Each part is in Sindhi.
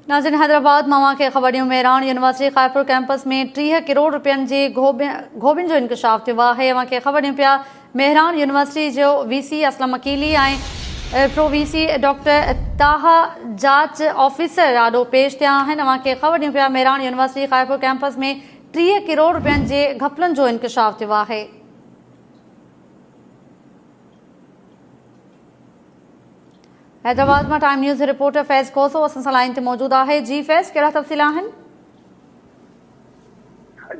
ناظرين حيدرآباد مان اوهان کي خبر ڏيون مهراڻ يونيورسٽي خائرپور ڪيمپس ۾ ٽيهه ڪروڙ رپين جي گهوٻين جو انڪشاف ٿيو آهي اوهان کي خبر ڏيون پيا مهراڻ يونيورسٽي جو V C Aslam Aqeeli ۽ pro V C doctor Taha جاچ آفيسر آڏو پيش ٿيا آهن اوهان کي خبر ڏيون پيا مهراڻ يونيورسٽي خائرپور ڪيمپس ۾ ٽيهه ڪروڙ رپين جي گهپلن جو انڪشاف ٿيو آهي حيدرآباد مان time news reporter Faiz Khoso اسان سان لائين تي موجود آهي جي فيض ڪهڙا تفصيل آهن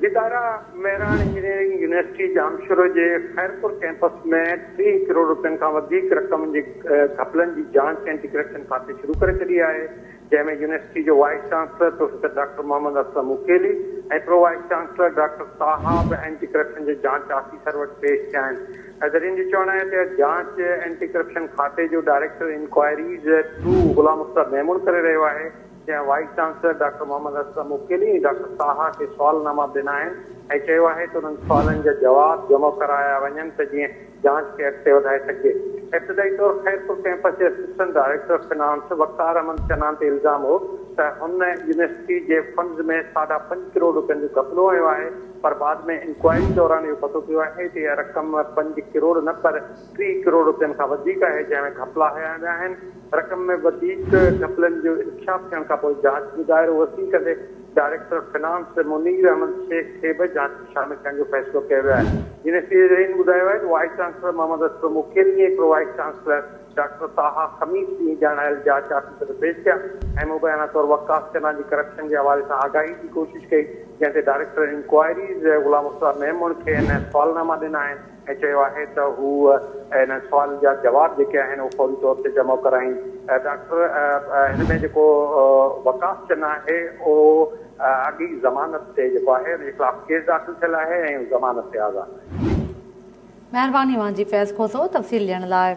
جي دارا مهراڻ انجنيئرنگ يونيورسٽي ڄامشورو جي خيرپور ڪيمپس ۾ ٽيهه ڪروڙ رپين کان وڌيڪ رقم جي گهپلن جي جاچ اينٽي ڪرپشن کاتي شروع ڪري ڇڏي آهي جنهن ۾ يونيورسٽي جو vice chancellor professor doctor Muhammad Aslam مڪيلي ۽ pro vice chancellor doctor Taha به اينٽي ڪرپشن جي جانچ آفيسر وٽ پيش ٿيا آهن. ذريعن جو چوڻ آهي ته اها جانچ اينٽي ڪرپشن کاتي جو director inquiries two Ghulam Mukhtar Memon ڪري رهيو آهي، جنهن vice chancellor doctor Muhammad Aslam مڪيلي ۽ doctor Taha کي سوالناما به ڏنا آهن ۽ چيو آهي ته انهن سوالن جا جواب جمع ڪرايا وڃن ته جيئن جاچ کي اڳتي وڌائي سگهجي. ابتدائي طور خيرپور ڪئمپس جي assistant director finance Waqar Ahmed Channa تي الزام هو ته هن يونيورسٽي جي فنڊز ۾ ساڍا پنج ڪروڙ رپين جو گهپلو هنيو آهي پر بعد ۾ انڪوائري دوران اهو پتو پيو آهي ته اها رقم پنج ڪروڙ نه پر ٽي ڪروڙ رپين کان وڌيڪ آهي جنهن ۾ گهپلا هنيا ويا آهن. رقم ۾ وڌيڪ گهپلن جو انڪشاف ٿيڻ کانپوء جاچ جو دائرو وسيع ڪندي ڊائريڪٽر فنانس منير احمد شيخ کي به جاچ ۾ شامل ڪرڻ جو فيصلو ڪيو ويو آهي. يونيورسٽي جي زعيم ٻڌايو آهي ته vice chancellor Muhammad Ashraf Makeri ۽ pro vice chancellor doctor Taha خميس ڏينهن ڄاڻايل جاچ آفيسر ڏي پيش ٿيا ۽ مبينا طور وقاص چنا جي ڪرپشن جي حوالي سان آگاهي جي ڪوشش ڪئي جنهن تي ڊائريڪٽر انڪوائريز غلام مصطفيٰ ميمڻ کي اين اين سوالناما ڏنا آهن. هن چيو آهي ته هو انهن سوالن جا جواب جيڪي آهن اهي فوري طور تي جمع ڪرائين. ڊاڪٽر هن ۾ جيڪو وقاص چنا آهي اهو اڳي ئي ضمانت تي جيڪو آهي ان جي خلاف ڪيس داخل ٿيل آهي ۽ هو ضمانت تي آزاد. مهرباني اوهان جي فيض کوسو تفصيل ڏيڻ لاء.